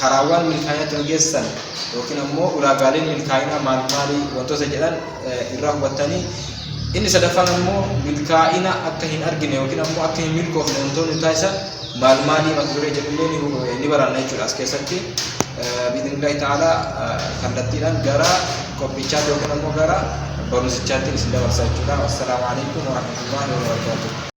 Karaawwan milkaa'ina ittiin geessan yookiin ammoo ulaagaaleen milkaa'inaa maal maali wantoota jedhan irraa hubattanii inni sadaffaan ammoo milkaa'ina akka hin argine yookiin ammoo akka hin milkoofne wantoonni taasisan maal maali mata duree jedhullee ni baranna jechuudha as keessatti biidinillahi ta'ala kallattiidhaan gara qophichaatti yookiin ammoo gara barumsichaatti isin dabarsa jechuudha. Assalaamu alaikum warahmatullahi wabarakatuh.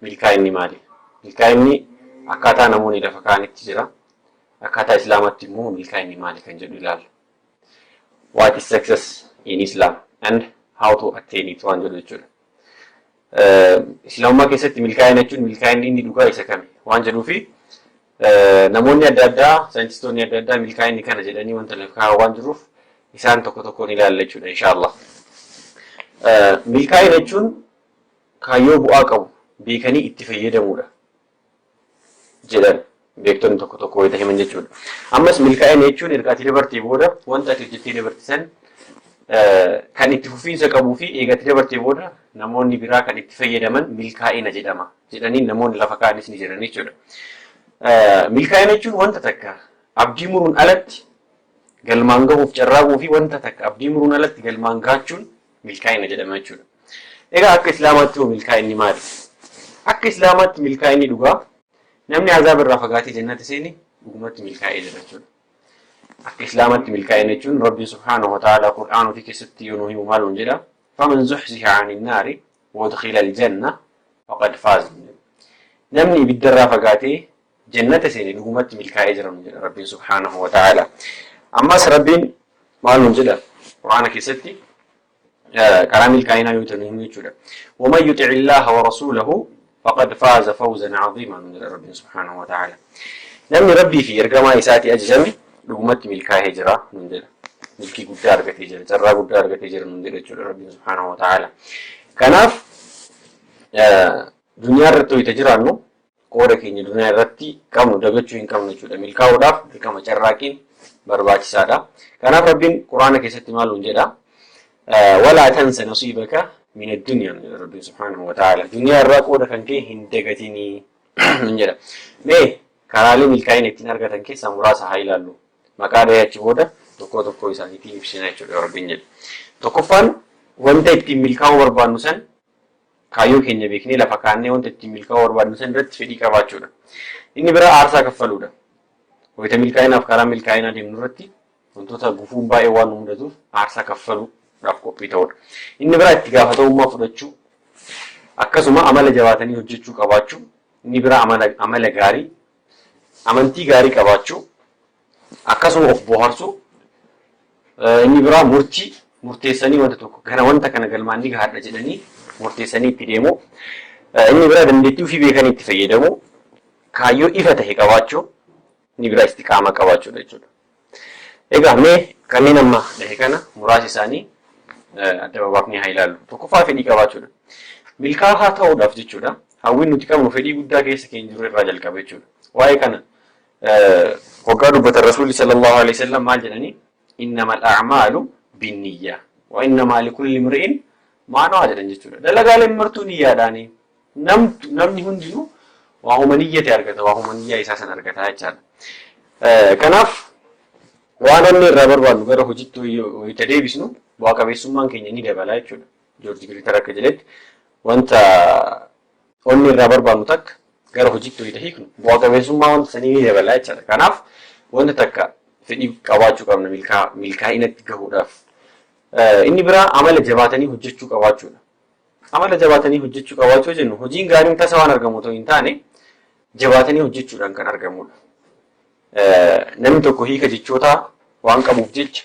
Milkaa'inni maali? Milkaa'inni akkaataa namoonni lafa kaa'anitti jira. Akkaataa Islaamaatti immoo milkaa'inni maali kan jedhu ilaalla. What is success in Islam and how to attain it waan jedhu jechuudha. Islaamummaa keessatti milkaa'ina jechuun milkaa'inni inni dhugaa isa kami waan jedhuu fi namoonni adda addaa saayintistoonni adda addaa milkaa'inni kana jedhanii wanta lafa kaa'an waan jiruuf isaan tokko tokkoon ilaalla jechuudha inshaallah. Milkaa'ina jechuun kaayyoo bu'aa qabu beekanii itti fayyadamuudha jedhan beektonni tokko tokko wayita himan jechuudha. Ammas milkaa'ina jechuun erga ati dabartee booda wanta ati hojjettee dabarte san kan itti fufiinsa qabuu fi eega ati dabartee booda namoonni biraa kan itti fayyadaman milkaa'ina jedhama jedhanii namoonni lafa kaa'anis ni jiran jechuudha. Milkaa'ina jechuun wanta takka abdii muruun alatti galmaan gahuuf carraaquu fi wanta takka abdii muruun alatti galmaan gaachuun milkaa'ina jedhama jechuudha. Egaa akka Islaamaatti hoo milkaa'inni maali? Akka Islaamaatti milkaa'inni dhugaa namni azaaba irraa fagaatee jannata seene dhugumatti milkaa'ee jira jechuudha. Akka Islaamaatti milkaa'ina jechuun Rabbiin subhaanahu wa ta'aalaa Qur'aana ofii keessatti yoo nu himu maal nuun jedha? Faman zuhziha ani naari wadkhila aljanna faqad faaz. Namni ibiddarraa fagaatee jannata seene dhugumatti milkaa'ee jira nuun jedha Rabbiin subhaanahu wa ta'aalaa. Ammas Rabbiin maal nuun jedha Qur'aana keessatti karaa milkaa'inaa yoo ta'u himuu jechuudha. Waman yuxi'i Illaaha wa rasuulahu faqad faaza fawzan caziimaa nuun jedha Rabbiin subhaanahu wa ta'aalaa. Namni Rabbii fi ergamaa isaatii ajajame dhugumatti milkaa'ee jira nuun jedha. Milkii guddaa argatee jira, carraa guddaa argatee jira nuun jedha jechuudha Rabbiin subhaanahu wa ta'aalaa. Kanaaf duniyaa irratti wayita jiraannu Qooda keenya duniyaa irratti qabnu dagachuu hin qabnu jechuudha. Milkaa'uudhaaf dirqama carraaqiin barbaachisaadha. Kanaaf Rabbiin Qur'aana keessatti maal nuun jedha? Walaa tansa nasiibaka min addunyaa jedha Rabbiin subhaanahu wa ta'aala. Duniyaa irraa qooda kan kee hin dagatinii nuun jedha. Mee karaalee milkaa'ina ittiin argatan keessaa muraasa haa ilaallu. Maqaa dhahee achi booda tokkoo tokkoo isaaniitiin ibsina jechuudha Rabbiin jedha. Tokkoffaan wanta ittiin milkaa'uu barbaannu san Kaayyoo keenya beeknee lafa kaa'annee wanta ittiin milkaa'uu barbaadnu sana irratti fedhii qabaachuu dha. Inni biraa aarsaa kaffaluu dha. Wayita milkaa'inaaf karaa milkaa'inaa deemnu irratti wantoota gufuun baay'ee waan nu mudatuuf aarsaa kaffaluu dhaaf qophii ta'uu dha. Inni biraa itti gaafatamummaa fudhachuu akkasuma amala jabaatanii hojjechuu qabaachuu, inni biraa amala gaarii, amantii gaarii qabaachuu, akkasuma of booharsuu inni biraa murtii murteessanii wanta tokko gara wanta kana galmaan ni gahaadha jedhanii murteessanii itti deemuu inni biraa dandeettii ofii beekanii itti fayyadamuu kaayyoo ifa ta'e qabaachuu inni biraa istiqaamaa qabaachuudha jechuudha. Egaa mee kanneen amma dhahe kana muraasa isaanii adda babaafnee haa ilaallu. Tokkoffaa fedhii qabaachuudha. Milkaa'aa ta'uudhaaf jechuudha. Hawwiin nuti qabnu fedhii guddaa keessa keenya jiru irraa jalqaba jechuudha. Waa'ee kana Waggaa dubbatan Rasuulli sallallahu alaihi wasallam maal jedhanii? Innamal a'maalu binniyyaa wa innamaa likulli imri'in maa nawaa jedhan jechuudha. Dalagaaleen martuu niyyaadhaani. Namtu namni hundinuu waa huma niyyate argata, waa huma niyyaa isaa san argata jechaadha. Kanaaf waan onnee irraa barbaannu gara hojiitti wayita deebisnu bu'aa qabeessummaan keenya ni dabala jechuudha. Joorji Giriitar akka jedhetti wanta Wanni irraa barbaannu takka gara hojiitti wayita hiiknu bu'a qabeessummaa wanta sanii ni dabala jechaadha. Kanaaf wanta takka fedhii qabaachuu qabna milkaa milkaa'inatti gahuudhaaf. Inni biraa amala jabaatanii hojjechuu qabaachuudha. Amala jabaatanii hojjechuu qabaachuu jennu hojiin gaariin tasa waan argamu otoo hin taane jabaatanii hojjechuudhaan kan argamudha. Namni tokko hiika jechootaa waan qabuuf jecha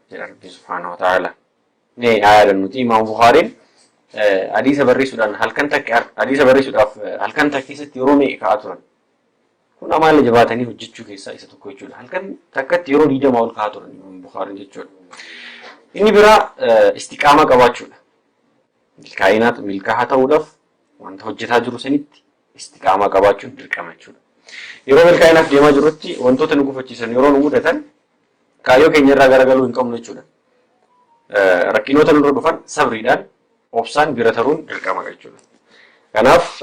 jedha Rabbiin subhaanahu wa ta'aala. Mee haa yaadannuti Imaam Buhaariin hadiisa barreessuudhaan halkan takka hadiisa barreessuudhaaf halkan takka keessatti yeroo meeqa ka'aa turan. Kun amaala jabaatanii hojjechuu keessaa isa tokko jechuudha. Halkan takkatti yeroo digdamaa ol ka'aa turan Imaam Buhaariin jechuudha. Inni biraa istiqaamaa qabaachuudha. Milkaa'inaat milkaahaa ta'uudhaaf wanta hojjetaa jiru sanitti istiqaamaa qabaachuun dirqama jechuudha. Yeroo milkaa'inaaf deemaa jirrutti wantoota nu gufachiisan yeroo nu mudatan Kaayyoo keenya irraa garagaluu hin qabnu jechuudha. Rakkinoota nurra dhufan sabriidhaan obsaan bira taruun dirqama jechuudha. Kanaaf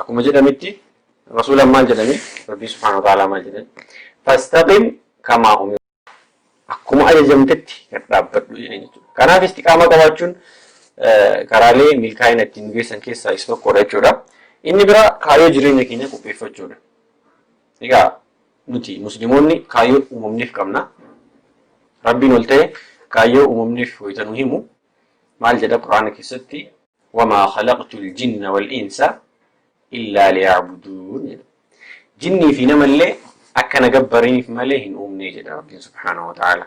akkuma jedhamitti rasuulaan maal jedhame rabbii subhaanahu wa ta'aalaa maal jedhame fastaqim kamaa umir akkuma ajajamtetti gad dhaabbadhu jedhee jechuudha. Kanaaf istiqaamaa qabaachuun karaalee milkaa'ina ittiin geessan keessaa isa tokkodha jechuudha. Inni biraa kaayyoo jireenya keenya qopheeffachuudha. Egaa Nuti Muslimoonni kaayyoo uumamniif qabna. Rabbiin ol ta'e kaayyoo uumamniif wayita nu himu maal jedha Qur'aana keessatti? Wamaa khalaqtul jinna wal insa illaa liya'buduun jedha. Jinnii fi namallee akka na gabbaraniif malee hin uumne jedha Rabbiin subhaanahu wa ta'aala.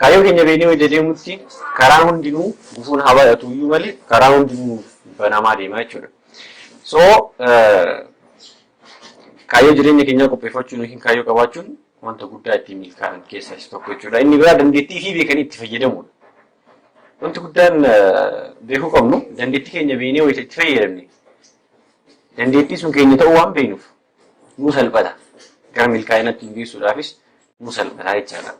Kaayyoo keenya beeknee wayita deemutti karaan hundinuu gufuun haa baay'atu iyyuu malee karaan hundinuu nuuf banamaa deema jechuudha. So kaayyoo jireenya keenyaa qopheeffachuun yookiin kaayyoo qabaachuun wanta guddaa ittiin milkaa'an keessaa isa tokko jechuudha. Inni biraa dandeettii fi beekanii itti fayyadamuudha. Wanti guddaan beekuu qabnu dandeettii keenya beeknee wayita itti fayyadamne dandeettii sun keenya ta'uu waan beeknuuf nuu salphata. Gara milkaa'inaatti nu geessuudhaafis nuu salphata jechaadha.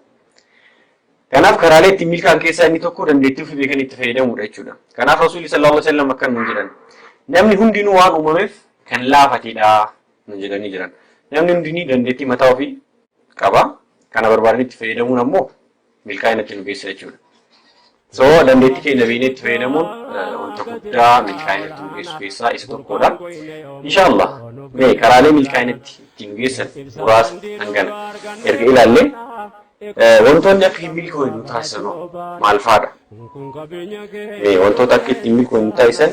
Kanaaf karaalee ittiin milkaa'an keessaa inni tokko dandeettii ofii beekan itti fayyadamuudha jechuudha. Kanaaf Rasuulli sallallahu alaihi wasallam akkan nuun jedhan. Namni hundinuu waan uumameef kan laafatedha nuun jedhanii jiran. Namni hundinii dandeettii mataa ofii qaba. Kana barbaadanii itti fayyadamuun ammoo milkaa'inatti nu geessa jechuudha. So dandeettii keenya beeknee itti fayyadamuun wanta guddaa milkaa'inatti nu geessu keessaa isa tokkodha. Inshaallah mee karaalee milkaa'inatti itti nu geessan muraasa hangana erga ilaallee wantoonni akka hin milkoofne nu taasisan maal fa'aadha? Mee wantoota akka ittiin milkoofne nu taasisan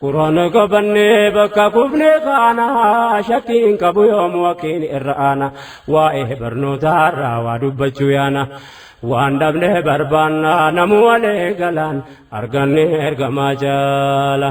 Quraana qabannee bakka kufne kaana shakkiin qabu yoomu wakiin irra aana waa'ee barnootaa irraa waa dubbachuu yaana waan dhabne barbaanna namu walee galaan arganne ergamaa jaala.